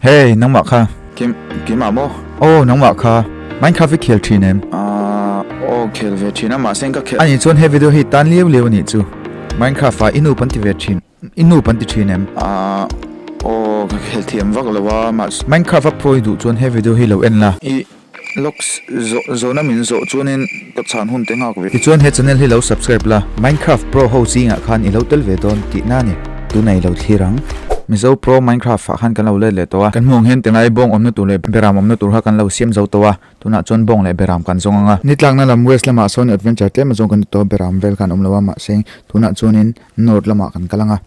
Hey, nangmah kha. Kim, Kim ah maw? Aw, nangmah kha. Mine Craft i khel thin em? Ahh, aw, khel ve thin a, mahse in ka khel. Ani chuan he video hi tan lio lio a nih chu. Mine Craft ah i nup an ti ve thin, i nup an ti thin em? Ahh, aw, ka khel thiam vak lo a, mahse. Mine Craft a phawi duh chuan he video hi lo en la. I. Logs zawh zawhna min zawh chuanin ka chhan hun te nghak ve. Tichuan he channel hi lo subscribe la, Minecraft Pro ho zingah khan i lo tel ve dawn tih na ni. Tunei lo thlir ang. Mizo Pro Minecraft ah khan kan lo let leh tawh a. Kan hmuh ang hian tilai bawng awmna tur leh beram awmna tur kha kan lo siam zo tawh a, tunah chuan bawng leh beram kan zawng ang a. Ni tlakna lam west lamah sawn adventure tlem azawng kan ni tawh a, beram vel khan awm lo a, mahse tunah chuanin north lamah kan kal ang a.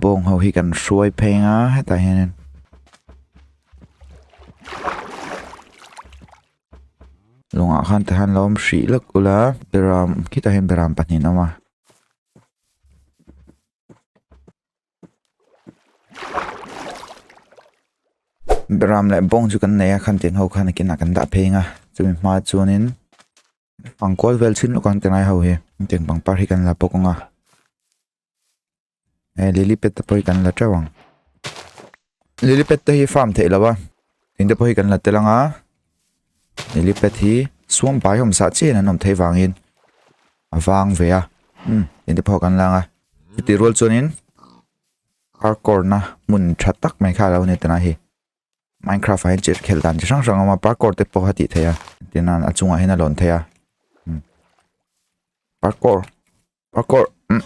Bawng ho hi kan hruai phei nga hetah hian Lunga khan te han lom hri lak ula Beram khita hian Beram pahnih awm a Beram leh bawng chu kan nei a khan tin ho khan a kinah kan dah phei nga chumi hma chuanin Pangkawl vel chhin lawk ang te ngai ho hi ken pangpar hi kan la bawk ang a e lily pad te pawh hi kan la teuh ang lily pad te hi farm theih lo a in te pawh hi kan la tel ang a lily pad hi suam pai hom sa chen an awm thei vangin a vang ve a um in te pawh kan lang a ti rual chuan in hardcore na mun tha tak mai kha lo ni tana hi Minecraft ah hian chet khel dan chi hrang hrang a awm a parkour te pawh a tih theih a tin a a chungah hian a lawn theih a umm parkour parkour umm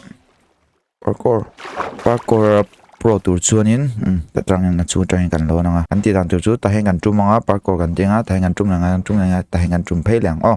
parkour parkour a pro tur chuanin umm ta tangin a chhung atangin kan lo lang a kan tih dan tur chu ta hian kan tum ang a parkour kan tih ang a ta hian kan tum leh ngai kan tum leh ngai ta hian kan tum phei leh ang aw.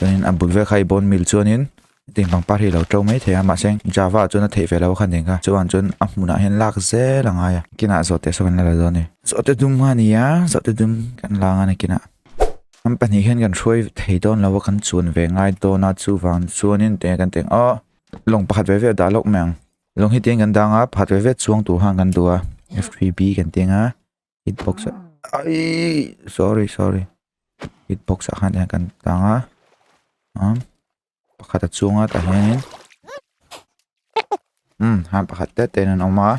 Chuanin a bul vel kha i bone meal chuanin eng pangpar hi a lo ṭo mai thei a, mahse heng Java-ah chuan a theih ve lo kha a ni ang kha, chuan chuan a hmunah hian lak zel a ngai a. Kinah zawhte saw kan la la dawn ni? Zawhte dum kha a ni a, zawhte dum kan la ang a ni kinah. Kan pahnih hian kan hruai thei dawn lo a, kan chuan ve ngai dawn a, chuvang chuanin tih nge kan tih ang, awh! Lawng pakhat ve ve a dah lawk mai ang. Lawng hi tiin kan dang a, pakhat ve ve chuang tur khan kan duh a, F3B kan tih ang a. hitbox ah ai sorry sorry hitbox ah khan kan tlang a um pakhat a chunga tah hianin um han pakhat te ten an awm a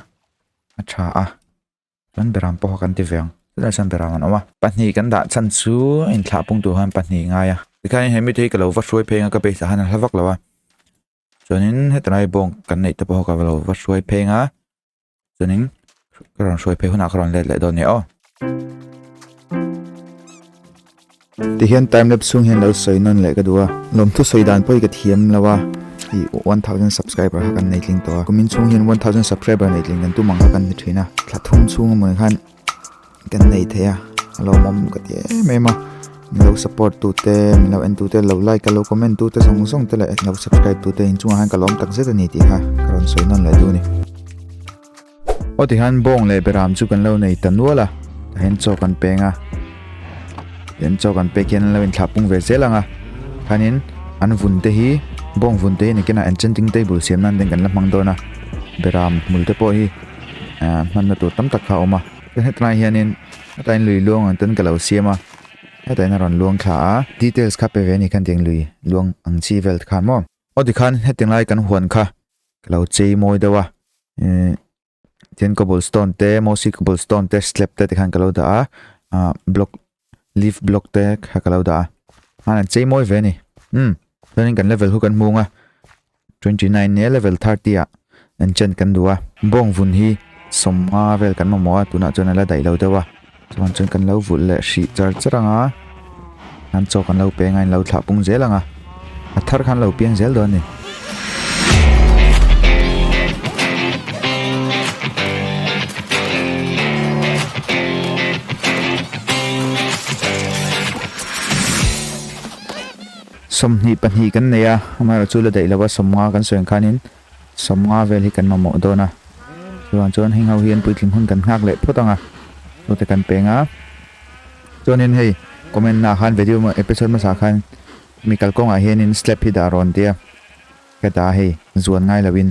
a tha a chuan beram pawh kha kan ti ve ang tunah sawn beram an awm a pahnih kan dah chhan chu a inthlah pung tur khan pahnih a ngai a tikhain he mite hi ka lo va hruai pheng a ka base ah khan a hla vak lo a chuanin heta lai bawng kan neih te pawh kha ka lo va hruai pheng a chuanin ka rawn hruai phei hunah ka rawn let leh dawn a ni aw tihian time lapse chhung hian lo sawi nawn leh ka du a lawmthu sawi dan pawh hi ka thiam lo a i one thousand subscriber kha kan nei tling tawh a kumin chhung hian one thousand subscriber nei tling kan tum ang kha kan hmu thin a thla thum chhung a mawni khan kan nei thei a a lo awm ka ti em em a min lo support tu te min lo en tu te lo like te lo comment tu te zawng zawng te leh lo subscribe tu te in chungah khan ka la awm tak zet a ni tih kha ka rawn sawi nawn leh a ni aw tikhan bawng leh beram chu kan lo nei ta nual a tah hian chaw kan peng a tian chaw kan pek hian an lo inthlap pung ve zel ang a khanin an vun te hi bawng vun te hi nikinah enchanting table siam nan te kan la hmang dawn a beram hmul te pawh hi ahh hmanna tur tam tak kha a awm a tin heta laiah hianin heta in lui luang ang ten ka lo siam a heta in a rawn luang thla a details kha pe ve a ni kha heti in lui luang ang chi vel te khan maw aw tikhan heti lai kan huan kha ka lo chei mawi deuh a umm tin cobble stone te mossy cobble stone te slab te tikhan ka lo dah a ahh block -- Leave block te kha ka lo dah a. Hman an chei mawi ve a ni. Umm, chuanin kan level hu kan hmung a. Twenty nine nia level thirty ah enchant kan duh a. Bawng vun hi sawm nga vel kan mamawh a, tunah chuan a la daih lo deuh a. Chuan chuan kan lo vulh leh hrih char char ang a. Hlan chaw kan lo peng a, in lo thlah pung zel ang a. A thar khan lo piang zel dawn ni. Sawmhnih pahnih kan nei a, amaherawhchu la daih lo a, sawm nga kan sawi ang khanin Sawm nga vel hi kan mamawh dawn a, chuvang chuan heng ho hian puitling hun kan nghak leh phawt ang a, chute kan peng a. Chuanin hei comment na ah khan video emaw episode hmasa ah khan mi kal kawngah hianin slap hi dah rawn tia ka dah a hei zuan ngai lo in.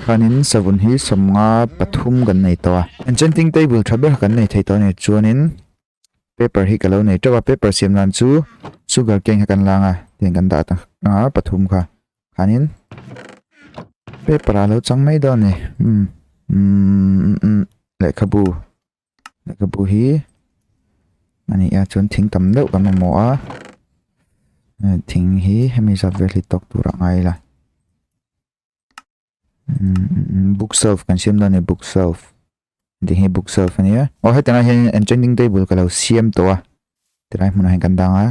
Khanin savun hi sawmnga pathum kan nei tawh a. Enchanting table tha ber kan nei thei tawh a nih chuanin paper hi ka lo nei teuh a, paper siam nan chu sugar cane kha kan lâng a, tiang kan dah ta a pathum kha. Khanin paper ah a lo chang mai dawn a ni, umm umm lehkhabu, lehkhabu hi a nih ah chuan thing tam deuh kan mamawh a, thing hi hemi zat vel hi tawk tur ah a ngai la. book self kan siam dan ni book self ti hi book self ania o heta na hian enchanting table ka lo siam tawh a tilai hmunah hian kan dang a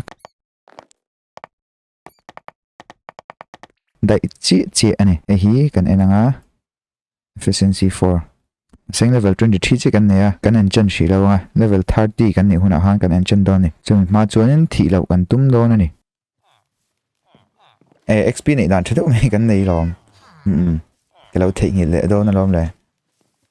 dai chi chi ani e hi kan enang a efficiency 4 seng level 23 chi kan nei a kan enchan hri lo a level 30 kan nih hunah han kan enchan dawn ni chumi hma chuan in thih lo kan tum dawn ani e xp nei dan thadeuh mai kan nei lawm mm ke lo thei ngil le don alom le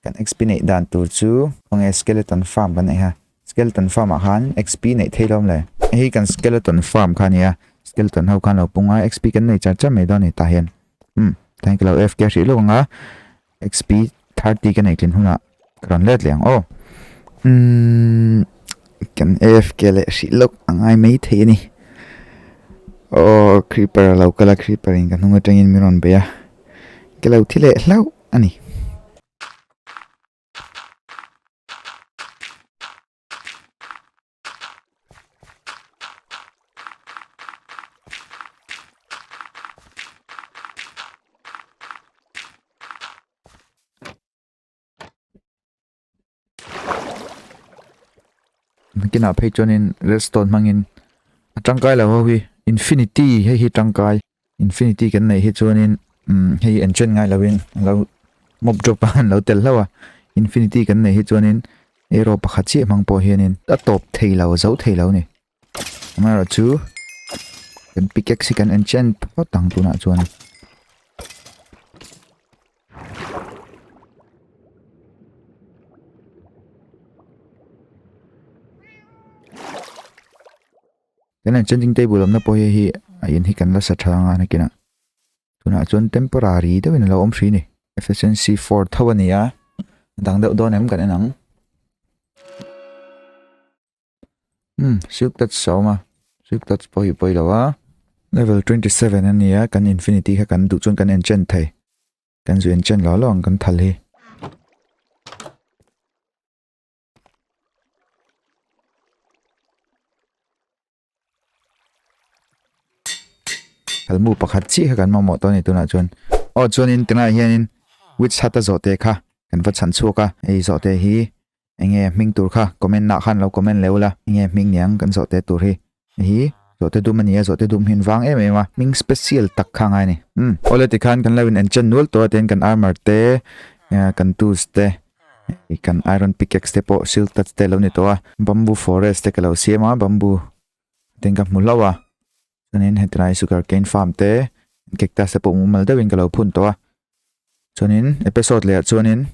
kan xp nei dan tur chu nge skeleton farm kan nei ha skeleton farm ah khan xp nei thei lawm le hei kan skeleton farm khan nia skeleton ho khan lo punga xp kan nei char char mai don ni ta hian mm thank you lo fk hrih lawk anga Xp thirty ka nei tlin hunah ka rawn let leh ang aw umm kan afk leh hrih loh a ngai mai thei a ni aw creeper a lo kal a creeper in ka hnung atangin min rawn bei a ka lo thi leh hlauh a ni kina phei chuan in redstone hmang in a tangkai lo ho hi infinity hei hi tangkai. Infinity kan neih hi chuanin um hei enchant ngai lovin lo mob drop a an lo tel hlauh a infinity kan neih hi chuanin arrow pakhat chiah hmang pawh hianin a tawp thei lo zo thei lo ni amaherawhchu chu kan pickaxe hi kan enchant phawt ang tunah chuan Kan han changing table awmna pawh hei hi a in hi kan la sa tha anga a nakin a tunah chuan temporary deuhin a lo awm hri ni efficiency 4 tho a ni a dang deuh dawn em kan en ang hmm silk touch a awm a silk touch pawh hi pawi lo a level 27 a ni a kan infinity kha kan duh chuan kan enchant thei kan zu enchant lo lo ang kan thal hi Kalmu pakhat chi kha kan mamawh tawh a ni tunah chuan aw chuanin tunah hianin witch hut a zawhte kha kan va chhan chhuak a hei zawhte hi enge hming tur kha comment ah khan lo comment leh ula enge hming niang kan zawhte tur hi Nihi zawhte dum a ni a, zawhte dum hi an vang em em a, hming special tak kha ngai a ni. Umm. Aw le tikhan kan lo in en chen nual tawh a, tin kan armor te, kan tools te, hei kan iron pickaxe te pawh silk touch te a lo ni tawh a, bamboo forest te ka lo siam a, bamboo te ka hmu hlauh a, chuanin heti lai sugarcane farm te, cactus te pawh mumal deuhin ka lo phun tawh a, Chuanin episode leh ah chuanin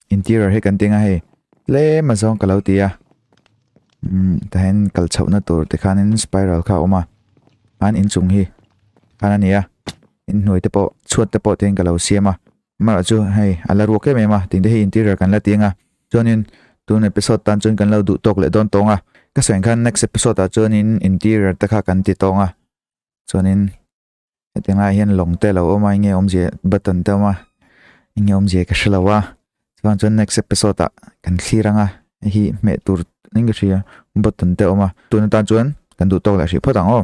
interior hi kan tinga hei tlem a zawng ka lo ti a um tahin kal chhohna tur te khanin spiral kha awma an inchung hi khana nia in hnuai te pawh chhuat te pawh ten ka lo siama mara chu hei ala ruak em em a tingte hi interior kan la tinga chuanin tun episode tan chuan kan lo duh tawk leh dawn tawnga ka sain khan next episode ah chuanin interior te kha kan ti tawnga chuanin heti ngai hian lawng te lo awm a enge awmzia button te a awm a enge awmzia ka hre lo a chuvang chuan next episode ah kan thlir ang a hei hi hmeh tur enkatia button te a awm a tun atan chuan kan duh tawk leh hrih phawt ang aw.